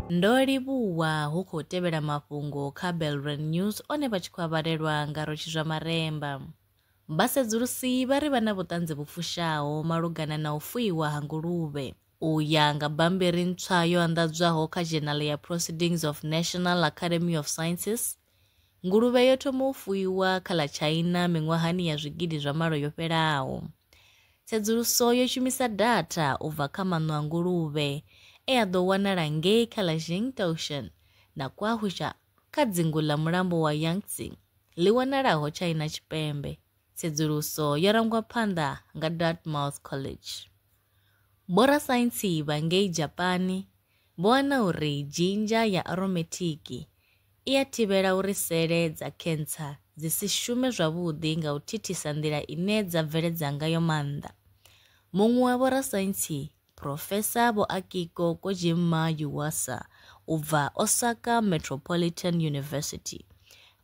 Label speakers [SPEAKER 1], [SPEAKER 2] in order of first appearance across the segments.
[SPEAKER 1] Ndo livhuwa hu khou tevhela mafhungo kha Belrand News one vha tshi khou avhalelwa nga Rotshi zwa Maremba. Vhasedzulusi vha ri vha na vhuṱanzi vhu fushaho malugana na u fuiwa ha nguluvhe. U ya nga bammbiri ntswa yo anḓadzwaho kha Journal ya Proceedings of National Academy of Sciences, Nguluvhe yo thoma u fuiwa kha ḽa China miṅwahani ya zwigidi zwa malo yo fhelaho. Tsedzuluso yo shumisa datha u bva kha maṋo a nguluvhe e a ḓo wanala ngei kha ḽa Jingtaoshan na Kwahusha kha dzingu ḽa mulambo wa Yangtze ḽi wanalaho China Tshipembe. Tsedzuluso yo rangwa phanḓa nga Dartmouth College. Vhorasaintsi vha ngei Dzhapani vho wana uri dzhinzha ya aromethiki i a thivhela uri sele dza khentsa dzi si shume zwavhuḓi nga u thithisa nḓila ine dza bveledza ngayo maanḓa. Muṅwe wa vhorasaintsi, Phurofesa Vho Akiko Kojimma Yuasa u bva Osaka Metropolitan University,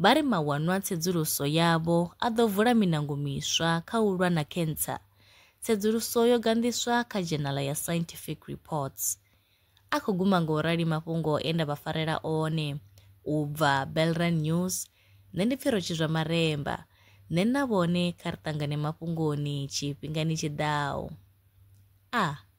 [SPEAKER 1] vha ri mawanwa tsedzuluso yavho a ḓo vula miṋango miswa kha u lwa na khentsa. Tsedzuluso yo ganḓiswa kha dzhenala ya Scientific Reports. A khou guma nga u rali mafhungo e nda vha farela one. U bva Belran News, nṋe ndi pfi Rotshizwa Maremba. Nṋe na vhone kha ri ṱangane mafhungoni tshifhingani tshi ḓaho. A.